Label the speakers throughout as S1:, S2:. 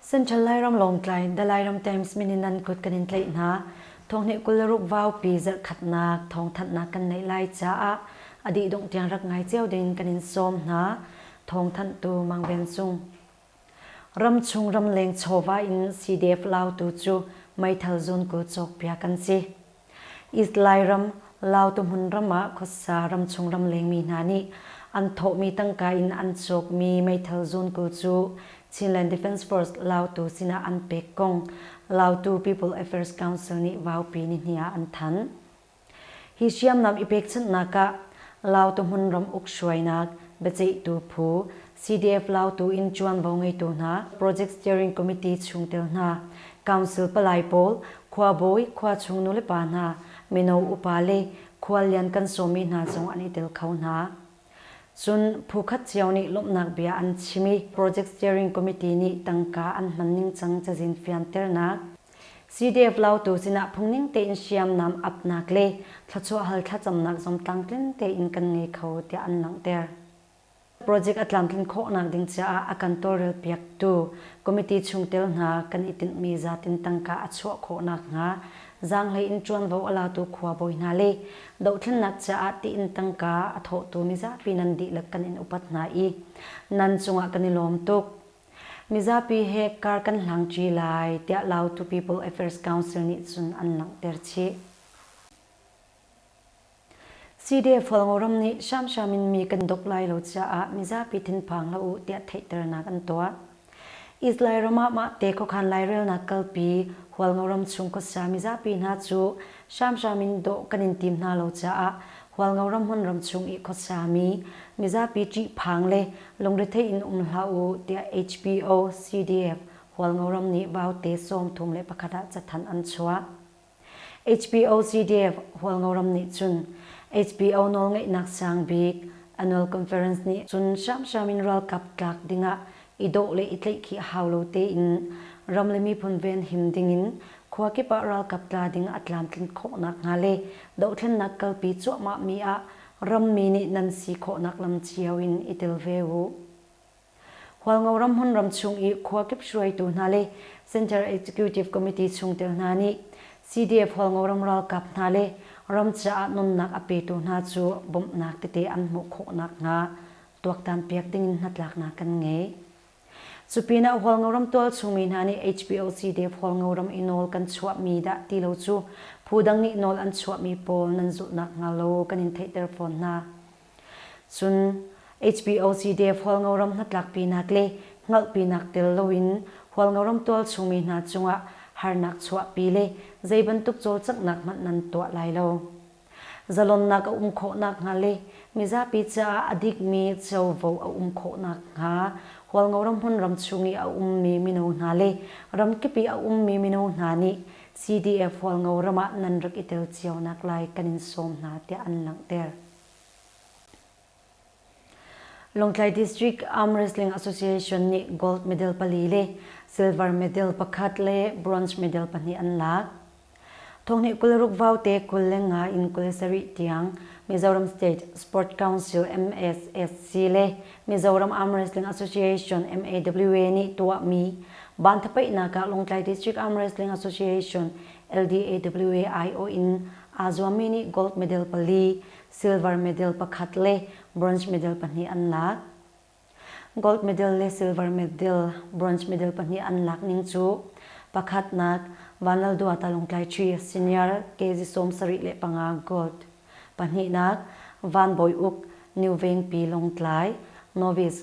S1: Central Lairam Lawngtlai the Lairam Times min in nan kut kan in tlai hna thonghni kularuk vau pi zarh khatnak thong thatnak kan nei lai caah adi dong tiang rak ngai cio ding kan in som hna thawngthanhtu Mang Ven Cung. Ramchung ramleng chawva in CDF Lautu cu meithal zawnku cawkpiak an si. East Lairam, Lautuhmun ram ah khuasa ramchung ramlengmi hna nih an thawhmi tangka in an cawkmi meithal zawnku cu Chinland Defence Force Lautu sinah an pek kong Lautu People Affairs Council nih vaupi nihnih ah an thanh. Hi hriamnam i pekchanhnak ah Lautohmun ram uk hruainak biaceihtu phu, CDF Lautu in ṭuanvo ngeitu hna, Project Steering Committee chungtel hna, Council palai pawl, khuabawi, khuachung nulepa hna, mino upa le khuallian kan sawmi hna zong an i tel kho hna. Cun phukhat cio nih lawmhnak bia an chim i Project Steering Committee nih tangka an hman ningcang cazin fianternak, Sidef lautu sinah phungning tein hriamnam apnak le thluachuahhal thlacamnak zong tlamtlin tein kan ngei kho tiah an langhter. Project a tlamtlin khawhnak ding caah a kan tawlrelpiaktu committee chungtel hna kan i tinhmi zatin tangka a chuah khawh nakhnga zaanghleiin ṭuanvo a latu khuabawi hna le dohthlennak caah tiin tangka a thawhtu mizapi nan dihlak kan in upat hna i nan cungah kan i lawm tuk. Mizapi he kar kan hlangṭi lai tiah Lautu People Affairs Council nih cun an langhter chih. CDF Falngoram nih hramhram in mi kan dok lai lo caah mizapi thinphang hlah u tiah theihternak an tuah. Israel ram ah mah te khuakhan lairelnak kalpi Hualngoram chung khuasa mizapi hna cu Hramhram in dawh kan in tim hna lo caah Hualngo ramhun ramchung i khuasami mizapi ṭihphang le lungrethei in um hlah u tiah HBO CDF Hualngo ram nih Vaute sawm thum le pakhat ah cathanh an chuah. HBO CDF Hualngo ram nih cun HBO nawlngeihnak sang bik Annual Conference nih cun hramhram in ralkap tlak dingah i dawh le i tleih khi a hau lo tein ram le miphun venhim dingin khua kip ah ralkap tla ding a tlamtlinh khawhnak hnga le dohthlennak kalpi cuahmah mi ah rammi nih nan si khawhnak lam cio in i tel ve uh. Hualngo ramhun ramchung i khua kip hruaitu hna le Center Executive Committee chungtel hna nih CDF Hualngo ram ralkap hna le ram caah nunnak a petu hna cu bawmhnak tete an hmuh khawhnak hnga tuaktan piak dingin hnatlaknak kan ngei. Cu pinah Hualngoram tualchungmi hna nih HPOC Dev Hualngoram i nawl kan chuahmi dah ti lo cu phudang nih nawl an chuahmi pawl nan zulh nakhnga lo kan in theihter fawn hna. Cun HPOC Dev Hualngoram hnatlakpinak le hngalhpinak tel loin Hualngoram tualchungmi hna cungah harnak chuahpi le zeibantuk cawlcanghnak hmanh nan tuah lai lo. Zalonnak a um khawh nakhnga le mizapi caah a dikmi covo a um khawh nakhnga Hualngo ramhun ram chung i a ummi mino hna le ramkip i a ummi mino hna nih CDF Hualngo ram ah nan rak i tel cio nak lai kan in sawm hna tiah an langhter. Lawngtlai District Arm Wrestling Association nih gold medal pali le silver medal pakhat le bronze medal pahnih an lak. Thonghnih kul ruk vaute kul le nga in kul sarih tiang Mizoram State Sport Council MSSC le Mizoram Arm Wrestling Association MAWA nih tuahmi banthapaihnak ah Lawngtlai District Arm Wrestling Association LDAWA aiawh in aa zuammi nih gold medal pali, silver medal pakhat le bronze medal pahnih an lak. Gold medal le silver medal, bronze medal pahnih an lak ning cu pakhatnak Vanlalduha Talungtlai Ṭhi senior kg sawm sarih le panga gold, pahnihnak Van Bawi Uk New Veng Pi Lawngtlai novice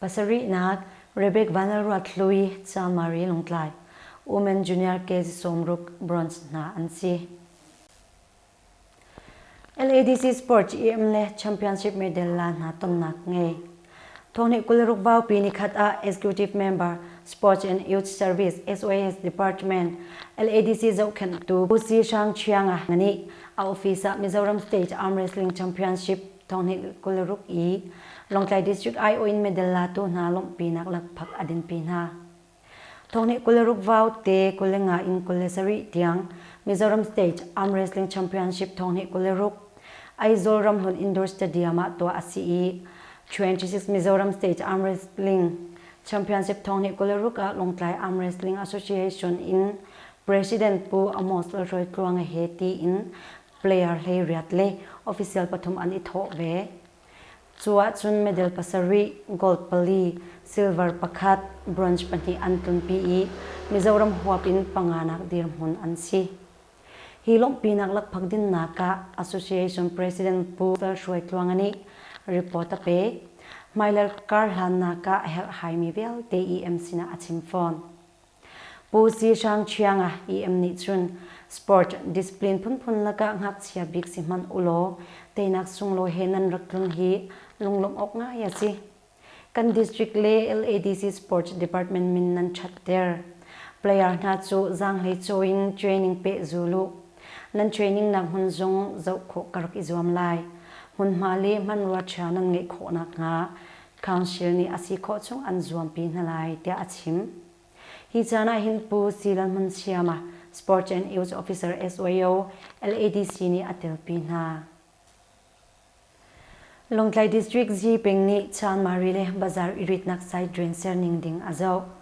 S1: Pasarihnak, Rebek Vanlalruat Hlui, Chamari, Lawngtlai, Women Junior kz sawmruk bronze hna an si. LADC Sports EM le Championship medal la hna tonnak ngei. Thawhni kul ruk bau pi ni khat ah Executive Member Sports and Youth Service SOS Department LADC zohkhenh tu Pu Si Hrang Chiang ah ngani a office ah Mizoram State Arm Wrestling Championship Thawnghninh kul ruk i Lawngtlai District aiawh in medal latu hna lawmhpinak lakphak a dinpi hna. Thawnghninh kul ruk vaute kul le nga in kul le sarih tiang Mizoram State Arm Wrestling Championship Thawnghninh kul le ruk Aizawl Ramhlun Indoor Stadium ah tuah a si i 26 Mizoram State Arm Wrestling Championship Thawnghninh kul le ruk ah Lawngtlai Arm Wrestling Association in President Pu Amos Lalhruai Tluanga he tiin player hleiriat le official pathum an i thawh ve. Cu ahcun medal pasarih, gold pali, silver pakhat, bronze pahnih an tlunpi i Mizoram huap in panganak dirhmun an si. Hi lawmhpinak lakphak dinnak ah Association President Pu Lal Hruai Tluanga nih report a pek. Hmailei karhlannak ah a herhhaimi vialte EM sinah a chim fawn. Pu Si Hrang Ṭhiang ah EM nih cun sport discipline phunphun lakah ngakchia bik si hmanh ulaw teinak sunglawi he nan rak tlung hi lunglawmh awk ngai a si. Kan district le LADC Sports Department min nan ṭhatter. Player hna cu zaanghlei caw in training pehzul u. Nan trainingnak hmun zong zoh khawh ka rak i zuam lai. Hmunhma le hmanrua ṭha nan ngeih khawh nakhnga Council nih a si khawh chung an zuampi hna lai tiah a chim. Hi caan ah hin Pu Si Lal Hmun Siama, Sports and Youth Officer SYO, LADC nih a telpi hna. Lawngtlai District Zipeng nih Chan Mari le Bazar iritnak site drain serning ding a zoh.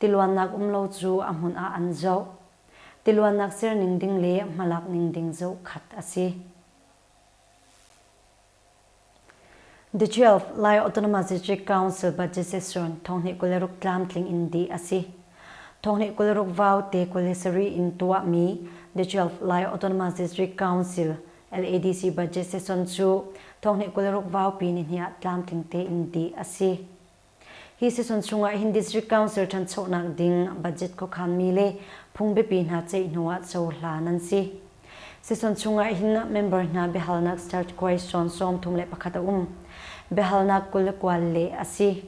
S1: tiluannak um lo cu a hmun ah an zoh. Tiluannak ser ning ding le hmalak ning ding zoh khat a si. The 12 Lai Autonomous Council budgetation thonghnih kul le ruk tlamtling in di a si. Thonghnih kul le ruk vau te kul le sari in tuahmi The 12 Lai Autonomous District Council LADC budget session cu thonghnih kul le ruk vaupi ni hnih ah tlamtling tein di a si. Hi season chungah hin District Council ṭhanchonak ding budget khuakhanmi le phungbiapi hna ceih hnu ah cohlan an si. Season chungah hin member hna biahalnak start question sawm thum le pakhat a um. Biahalnak kul le kual leh a si.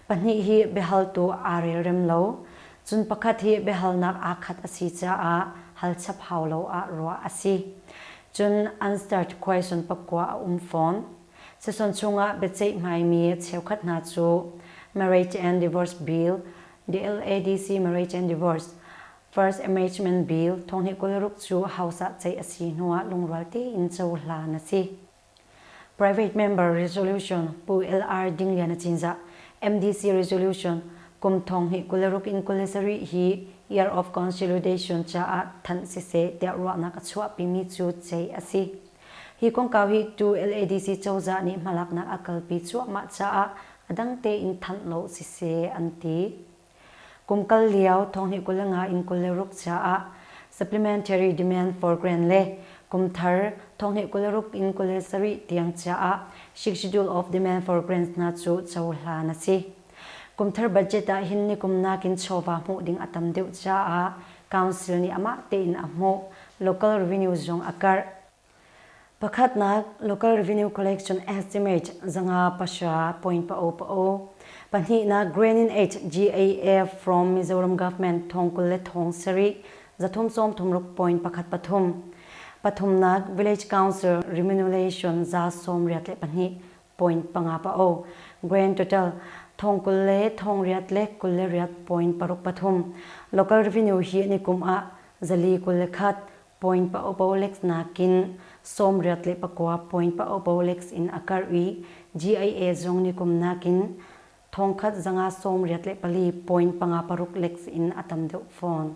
S1: Pahnih hi biahaltu aa relrem lo. Cun pakhat hi biahalnak aa khat a si caah hal chap hau lo ah ruah a si. Cun unstart question pakua a um fawn. Seson chungah biaceihmaimi cheukhat hna cu Marriage and Divorce Bill, DLADC Marriage and Divorce, First Amendment Bill, thonghnih kul ruk cu House ah ceih a si hnu ah lungrual tein cohlan a si. Private Member Resolution, Pu LR Ding Lian a Cinzah, MDC Resolution, kum thonghnih kul ruk in kul le sarih hi Year of Consolidation caah thanh siseh tiah ruahnak a chuahpimi cu ceih a si. Hi kongkau hi tu LADC cozah nih hmalaknak a kalpi cuahmah caah a dang tein thanh lo siseh an ti. Kum kal lio thonghnih kul le nga in kul le ruk caah Supplementary Demand for Grand le kum thar thonghnih kul le ruk in kul le sarih tiang caah Shick Schedule of Demand for Grants hna cu cohlan a si. Kumthar budget ah hin nikum nakin chawva hmuh ding a tam deuh caah Council nih amah tein a hmuh, Local Revenue zong a karh. Pakhatnak, Local Revenue Collection Estimate, zanga pahra, point pao-pao. Pahnihnak, Grain in Aid, GAF, from Mizoram Government thong kul le thong sarih, zathum sawmthum ruk point pakhat pathum. Pathumnak, Village Council Remuneration za sawmriat le pahnih, point panga pa o. Grain total thong kul le thong riat le kul le riat point paruk pathum. Local revenue hi ni kum ah zali kul le khat point pa o polex nakin sawm riat le pakua point pa o polex in a karh i GIA zong ni kum nakin thong khat zanga sawm riat le pali point panga paruk lex in a tam deuh fawn.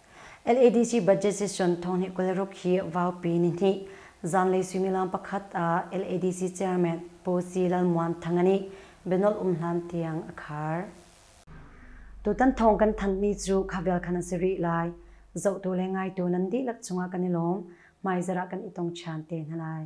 S1: LADC budget session thonghnih kul ruk hi Vaupi nihnih zanlei suimilam pakhat ah LADC chairman Pu Si Lal Muan Thang nih bianolh um hlan tiang a khar. Tutan thawng kan thanhmi cu kha vial khan an si rih lai. Zohtu le ngaitu nan dihlak cungah kan i lawm. Hmaizarah kan i tong ṭhan te hna lai.